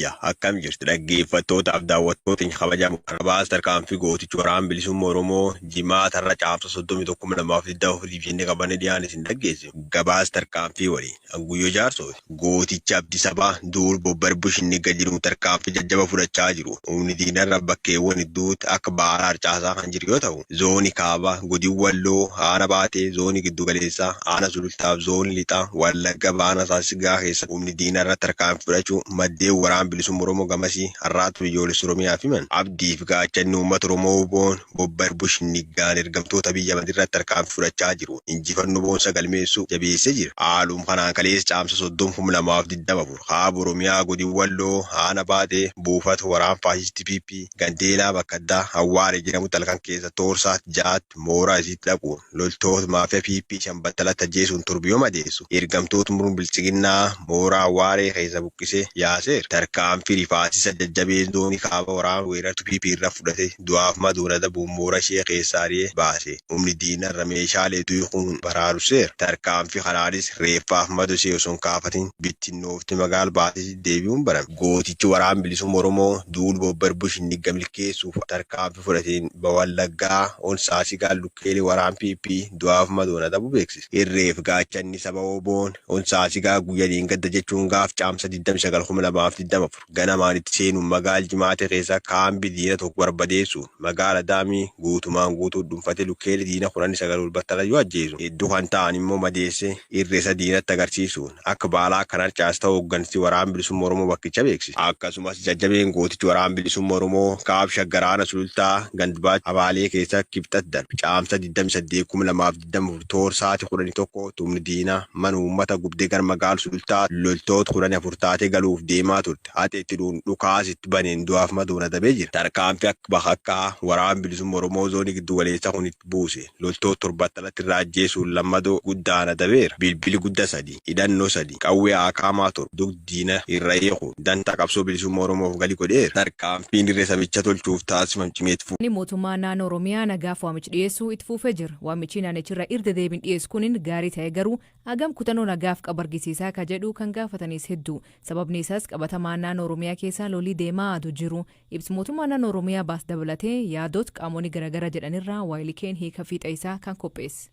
Biyya, akkam jirtu dhaggeeffattootaaf daawwattoota keenya kabajaa muqarrabaas tarkaanfii gootichi waraana bilisumma Oromoo jimaata har'a caamsa 31,2024 jennee qabannee dhiyaanne isin dhaggeessinu gabaas tarkaanfii waliin Anguyyoo Jaarsoo fi gootichi Abdi Sabaa duul bobbarbush inni gad jedhuun tarkaanfii jajjaba fudhachaa jiru humni diinarra bakkeewwan hedduutti akka baaraa harcaasaa kan jiru yoo ta'u Zooni Kaaba, Godin Walloo, Aana Baatee, Zooni Giddu Galeessa, Aana Sulultaa fi Zooni Lixa Wallagga Baana Saasiggaa keessatti humni diinaa irratti tarkaanfii fudhachuu maddeen Waraana Bilisumma Oromoo gamasii Arraata Biyyoolessa Oromiyaaf himan. Abdii fi Gaachanni Uummata Oromoo WBOn Bobbar Bushinniggaan ergamtoota Abiy Ahimad irratti tarkaanfii fudhachaa jiruun injifannoo boonsaa galmeessuu jabeessee jira. Haaluma kanaan kaleessa Caamsaa 30,2024 Kaaba Oromiyaa Godin Walloo, Aana Baatee, Buufata Waraana Faashistii PP, Gandeelaa bakka addaa Awwaaree jedhamutti halkan keessa toor saat 6tti mooraa isiitti dhaquun loltoota maafiyaa PP shan battalatti ajjeesuun torba yoo madeessu, ergamtoota murni Biltsiginnaa mooraa Awwaaree keessaa buqqisee yaaseera. Tarkaanfii rifaasisaa jajjabeen zoonii Kaaba waraana weerartuu PP irra fudhate du'aaf madoon adabuun mooraa ishee keessaa ari'ee baase. Humni diinaa irra meeshaalee du'e kun baraarusseera. Tarkaanfii kanaanis reeffaaf madoo ishee osoo hin kaafatin bittinnooftee magaala baatee deebi'uun barame. Gootichi Waraanni Bilisumma Oromoo duul Bobber Bush hin digga milkeessuuf tarkaanfii fudhateen Bawallaggaa on Saasigaan lukkeelee waraan PP du'aaf madoon adabuu beeksise. Irree fi gaachanni saba WBOn on Saasigaa guyya dheengadda jechuun gaaf Caamsa 29,2024 ganamaan itti seenuun magaal Jimaatee keessa kaambi diina tokko barbadeessuun, Magaala Daamii guutumaan guutuu dhunfate lukkeelee diina kudhan sagal ol battalan yoo ajjeesu, hedduu kan ta'an immoo madeessee irree isaa diinatti agarsiisuun akka baalaa kan harcaase ta'uu hoggansi Waraana Bilisummaa Oromoo bakkicha beeksise. Akkasumas jajjabeen gootichi Waraana Bilisummaa Oromoo Kaab Shaggar Aana Sulultaa Gand Baacha Abaalee keessaa Kibxat darbe Caamsaa 28,2025 Damur Toor sa'aati kudhani tokko tumni diina mana uummata gubde gara magaal Sulultaa loltoot kudhani afur taate galuuf deemaa turte haxe itti dhuun dhukaas itti baneen du'aaf madoon adabee jira. Tarkaanfi akka bakakkaa waraan bilisumma Oromoo zooni giddu galeessa kun itti buuse loltoot torbattalatti irraa ajjeesuun lammadoo guddaan adabeera. Bilbili gudda 3. hidhannoo 3, qawwee aakaamaa 7, dugd diina irra hiikuun dantaa qabsoo bilisumma Oromoof gali godheera. Tarkaanfiin dirre sabicha tolchuuf taasifam cimee itti fufa. ni mootummaa naanoo Oromiyaa nagaaf waamich dhiyeessuu itti fuufee jir. Waamichii naanich irra irr dedeebin dhiyeess kunin gaarii ta'ee garuu agam kutanoo nagaaf qab argisiisaa ka jedhuu kan gaafataniis hedduu. Sababnii isaas qabatamaa naanoo Oromiyaa keessaa lolii deemaa adu jiru ibs mootummaa naanoo Oromiyaa baas dabalatee yaadoot qaamoni garagara jedhan irraa ylikn hiika fiixa isaa kan kopheess.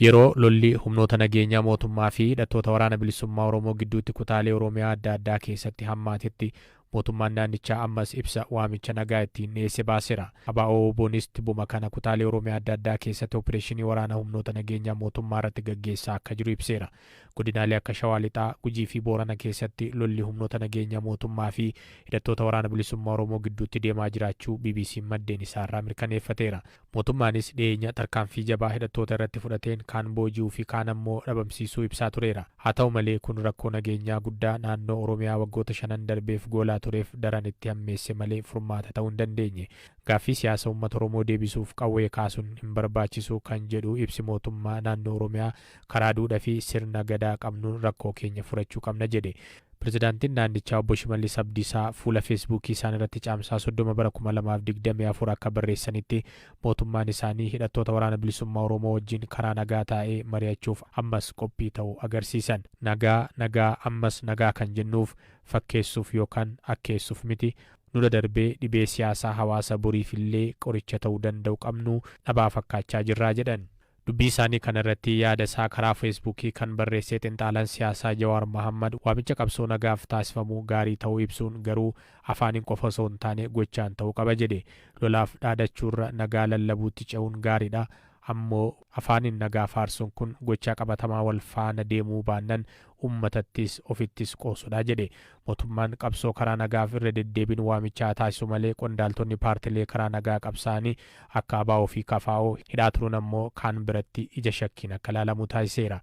Yeroo lolli humnoota nageenyaa mootummaa fi hidhattoota Waraana Bilisummaa Oromoo gidduutti kutaalee Oromiyaa adda addaa keessatti hammaatetti mootummaan naannichaa ammas ibsa waamicha nagaa ittiin dhiyeesse baaseera. ABO-WBOnis tibuma kana kutaalee Oromiyaa adda addaa keessatti opireeshinii waraana humnoota nageenyaa mootummaa irratti gaggeessaa akka jiru ibseera. Godinaalee akka Shawaa Lixaa, Gujii fi Boorana keessatti lolli humnoota nageenyaa mootummaa fi hidhattoota Waraana Bilisummaa Oromoo gidduutti deemaa jiraachuu BBC'n maddeen isaarraa mirkaneeffateera. Mootummaanis dhiyeenya tarkaanfii jabaa hidhattoota irratti fudhateen kaan booji'uu fi kaan ammoo dhabamsiisuu ibsaa tureera. Haa ta'u malee kun rakkoo nageenyaa guddaa naannoo Oromiyaa waggoota shanan darbeef goolaa tureef daran itti hammeesse malee furmaata ta'uu hin dandeenye. Gaaffii siyaasa uummata Oromoo deebisuuf qawwee kaasuun hin barbaachisu kan jedhu ibsi mootummaa naannoo Oromiyaa, Karaa duudha fi sirna Gadaa qabnuun rakkoo keenya furachuu qabna jedhe. Pirezidaantiin naannichaa Obbo Shimallis Abdiisaa fuula Feesbuukii isaaniirratti Caamsaa 30 bara 2024 akka barreessanitti, mootummaan isaanii hidhattoota Waraana Bilisummaa Oromoo wajjin karaa nagaa taa'ee mari'achuuf ammas qophii ta'uu agarsiisan. Nagaa, nagaa, ammas nagaa kan jennuuf fakkeessuuf yookaan akkeessuuf miti. Nu dadarbee dhibee siyaasaa hawaasa boriifillee qoricha ta'uu danda'u qabnu dhabaa fakkaachaa jirra, jedhan. Dubbii isaanii kana irratti yaada isaa karaa Feesbuukii kan barreessee xinxaalaan siyaasaa Jawaar Mahaammad waamicha qabsoo nagaaf taasifamu gaarii ta'uu ibsuun garuu afaaniin qofa osoo hin taane gochaan ta'uu qaba jedhe. Lolaaf dhaadachuurra nagaa lallabuutti ce'uun gaariidha. Ammoo afaaniin nagaa faarsuun kun gochaa qabatamaa wal faana deemuu baannan uummatattis ofittis qoosudha jedhe. Mootummaan qabsoo karaa nagaaf irra deddeebiin waamicha haa taasisu malee qondaaltonni paartilee karaa nagaa qabsaa'anii akka abo fi kfo hidhaa turuun ammoo kaan biratti ija shakkiin akka ilaalamu taasiseera.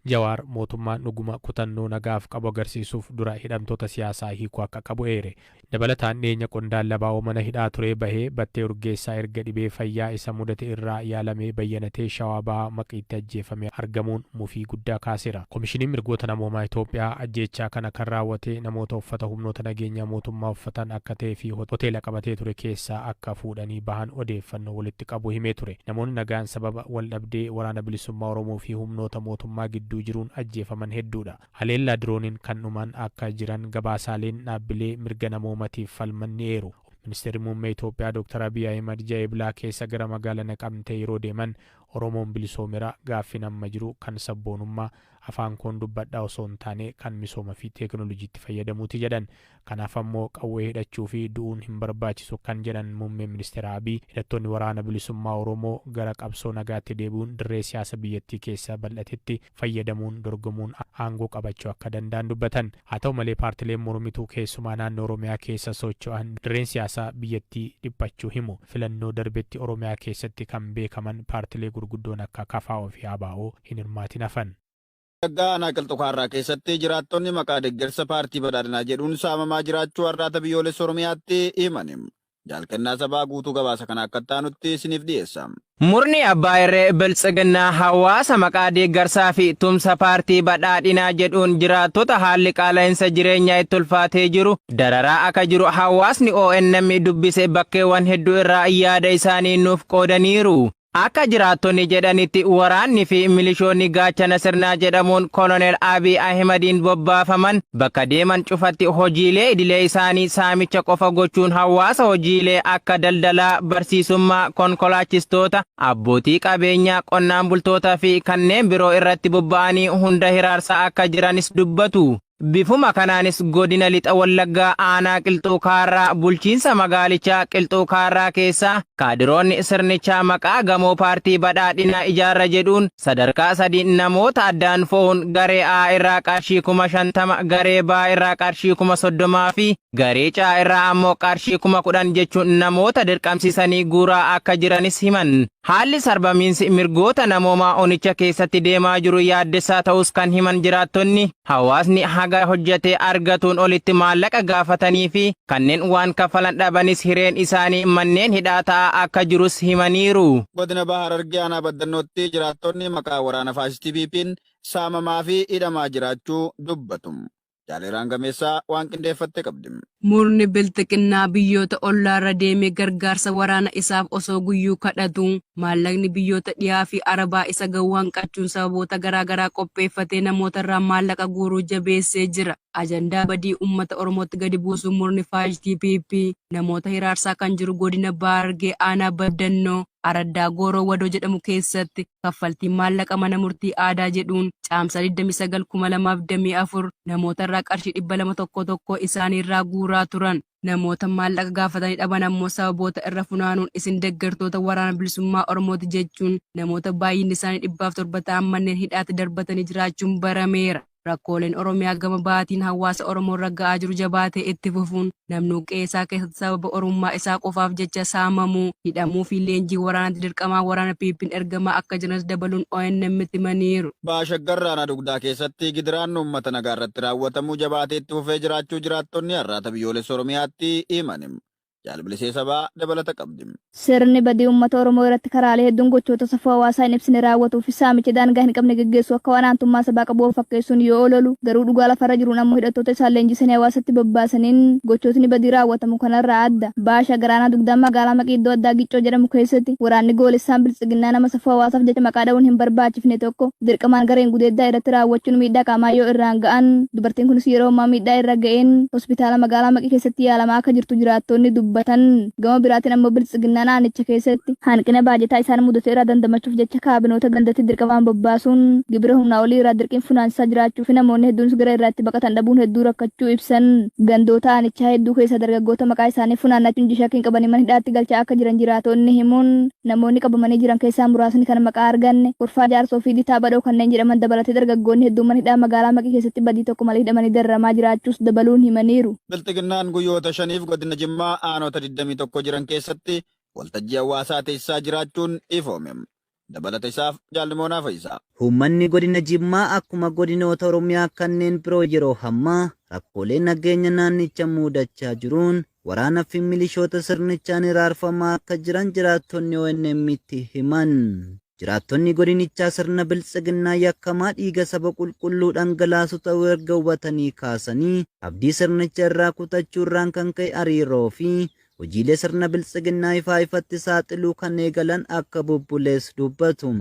Jawaar mootummaan dhuguma kutannoo nagaaf qabu agarsiisuuf dura hidhamtoota siyaasaa hiikuu akka qabu eere. Dabalataan dhiyeenya qondaalli abo mana hidhaa turee bahee Battee Urgeessaa erga dhibee fayyaa isa mudate irraa yaalamee bayyanatee Shawaa Bahaa Maqiitti ajjeefamee argamuun, mufii guddaa kaaseera. Komishiniin Mirgoota Namoomaa Itoophiyaa ajjeechaa kana kan raawwate namoota uffata humnoota nageenyaa mootummaa uffatan akka ta'ee fi hoteela qabatee ture keessaa akka fuudhanii bahan odeeffannoo walitti qabu himee ture. Namoonni nagaan sababa waldhabdee Waraana Bilisummaa Oromoo fi humnoota mootummaa gidduu jiruun ajjeefaman hedduudha. Haleellaa dirooniin kan dhuman akka jiran gabaasaaleen dhaabbilee mirga namoomatiif falman ni eeru. Ministeerri Muummee Itoophiyaa Dr. Abiy Ahimad ji'a Eblaa keessa gara magaala Naqamtee yeroo deeman Oromoon bilisoomeera, gaaffiin amma jiru kan sabboonummaa, afaan koon dubbadha osoo hin taane kan misooma fi teeknoolojiitti fayyadamuuti jedhan. Kanaaf ammoo qawwee hidhachuu fi du'uun hin barbaachisu kan jedhan Muummeen Ministeera Abiy, hidhattoonni Waraana Bilisummaa Oromoo gara qabsoo nagaatti deebi'uun dirree siyaasa biyyattii keessa bal'atetti fayyadamuun dorgomuun aangoo qabachuu akka danda'an dubbatan. Haa ta'u malee paartileen mormituu keessumaa naannoo Oromiyaa keessa socho'an dirreen siyaasaa biyyattii dhiphachuu himu. Filannoo darbetti Oromiyaa keessatti kan beekaman paartilee gurguddoon akka kfo fi ABO hin hirmaatin hafan. Wallaggaa aanaa Qilxu Kaarraa keessatti jiraattonni maqaa deggersa paartii Badhaadhinaa jedhuun saamamaa jiraachuu Arraata Biyyoolessa Oromiyaatti himan. Jaal Kennaa Sabaa guutuu gabaasa kana akka itti aanutti isiniif dhiyeessa. Murni abbaa irree Biltsiginnaa hawaasa maqaa deeggarsaa fi tumsa paartii Badhaadhinaa jedhuun jiraattota haalli qaala'insa jireenyaa itti ulfaatee jiru dararaa akka jiru hawaasni ONM dubbise bakkeewwan hedduu irraa yaada isaanii nuuf qoodaniiru. Akka jiraattonni jedhanitti waraanni fi milishoonni gaachana sirnaa jedhamuun Koloneel Abiy Ahimadiin bobbaafaman bakka deeman cufatti hojiilee idilee isaanii saamicha qofa gochuun hawaasa hojiilee akka daldalaa, barsiisummaa, konkolaachistoota, abbootii qabeenyaa, qonnaan bultoota fi kanneen biroo irratti bobba'anii hunda hiraarsaa akka jiranis dubbatu. Bifuma kanaanis Godina Lixa Wallaggaa Aanaa Qilxuu Kaarraa Bulchiinsa Magaalichaa Qilxuu Kaarraa keessaa kaadiroonni sirnichaa maqaa gamoo paartii Badhaadhinaa ijaarra jedhuun sadarkaa sadiin namoota addaan fo'uun garee A irraa qarshii 50,000, garee B irraa qarshii 30,000 fi garee C irraa ammoo qarshii 10,000 jechuun namoota dirqamsiisanii guuraa akka jiranis himan. Haalli sarbamiinsi mirgoota namoomaa onicha keessatti deemaa jiru yaaddessaa ta'uus kan himan jiraattonni, hawaasni haga hojjetee argatuun olitti maallaqa gaafatanii fi kanneen waan kaffalan dhabanis hireen isaanii manneen hidhaa ta'aa akka jirus himaniiru. Godina Baha Harargee Aanaa Baddannootti jiraattonni maqaa waraana faashistii PP'n saamamaa fi hidhamaa jiraachuu dubbatu. Jaaleeraan Gameessaa waan qindeeffatte qabdi. Murni Bilxiginnaa biyyoota ollaarra deemee gargaarsa waraana isaaf osoo guyyuu kadhatuu, maallaqni biyyoota dhiyaa fi Arabaa isa gahu hanqachuun sababoota garaa garaa qopheeffatee namootarraa maallaqa guuruu jabeessee jira. Ajandaa badii uummata Oromootti gadi buusuun murni faashistii PP namoota hiraarsaa kan jiru godina Baargee aanaa Baddannoo araddaa Gooroo Wadoo jedhamu keessatti. kaffaltiin maallaqa mana murtii aadaa jedhuun Caamsaa 29, 2024 namoota irraa qarshii 200 tokkoo tokkoo isaanii irraa guuraa turan. Namoota maallaqa gaafatanii dhaban ammoo sababoota irra funaanuun isin deggertoota Waraana Bilisummaa Oromooti jechuun namoota baay'inni isaanii 700 ta'an manneen hidhaatti darbatanii jiraachuun barameera. Rakkooleen Oromiyaa gama bahaatiin hawaasa Oromoorra ga'aa jiru jabaatee itti fufuun namnuu qe'ee isaa keessatti sababa Oromummaa isaa qofaaf jecha saamamuu, hidhamuu fi leenjii waraanaatti dirqamaan waraana PP'n ergamaa akka jiranis dabaluun ONM'tti himaniiru. Baha Shaggar aanaa Dugdaa keessatti gidiraan uummata nagaarratti raawwatamu jabaatee itti fufee jiraachuu jiraattonni Arraata Biyyoolessa Oromiyaatti himan. Jaal Bilisee Sabaa dabalata qabdi. Sirni badii uummata Oromoo irratti karaalee hedduun gochoota safuu hawaasaa hin ibsine raawwatuu fi saamicha daangaa hin qabne geggeessu akka waan aantummaa sabaa qabu of fakkeessuun yoo ololu, garuu dhugaa lafa irra jiruun ammoo hidhattoota isaan leenjisanii hawaasatti bobbaasaniin gochootni badii raawwatamu kana irraa adda. Baha Shaggar Aanaa Dugdaa Magaalaa Maqii iddoo addaa Giccoo jedhamu keessatti waraanni goolessaan Biltsiginnaa nama safuu hawaasaaf jecha maqaa dha'uun hin barbaachifne tokko dirqamaan gareen gudeeddaa irratti raawwachuun miidhaa qaamaa yoo irraan ga'an, Dubartiin kunis yeroo ammaa miidhaa irra ga'een hospitaala magaalaa Maqii keessatti yaalamaa akka jirtu jiraattoonni dubbatan. Gama biraatiin ammoo Biltsiginnaan aanicha keessatti hanqina baajataa isaan mudate irraa dandamachuuf jecha kaabinoota gandatti dirqamaan bobbaasuun gibira humnaa olii irraa dirqiin funaansisaa jiraachuufi namoonni hedduunis gara irraa itti baqatan dhabuun hedduu rakkachuu ibsan. Gandoota aanichaa hedduu keessaa dargaggoota maqaa isaanii funaannachuun G-Shakkiin qabanii mana hidhaatti galchaa akka jiran jiraatoonni himuun, Namoonni qabamanii jiran keessaa muraasni kan maqaa arganne, Kurfaa Jaarsoo fi Ditaa Badhoo kanneen jedhaman dabalatee dargaggoonni hedduu mana hidhaa magaalaa Maqii keessatti badii tokko malee hidhamanii dararamaa jiraachuus dabaluun himaniiru. Bilxiginnaan guyyoota shaniif godina Jimmaa aanota 21 jiran keessatti waltajjii hawaasaa teessisaa jiraachuun ifoome. Dabalata isaaf Jaal Nimoonaa Fayisaa. Uummanni godina Jimmaa akkuma godinoota Oromiyaa kanneen biroo yeroo hammaa rakkoolee nageenya naannicha muudachaa jiruun waraana fi milishoota sirnichaan hiraarfamaa akka jiran jiraattonni ONM'tti himan. Jiraattonni godinichaa sirna biltsiginnaa yakkamaa dhiiga saba qulqulluu dhangalaasu ta'uu erga hubatanii kaasanii abdii sirnicha irraa kutachuu irraan kan ka'e hariiroo fi hojiilee sirna biltsiginnaa ifaa ifatti saaxiluu kan eegalan akka bubbulees dubbatu.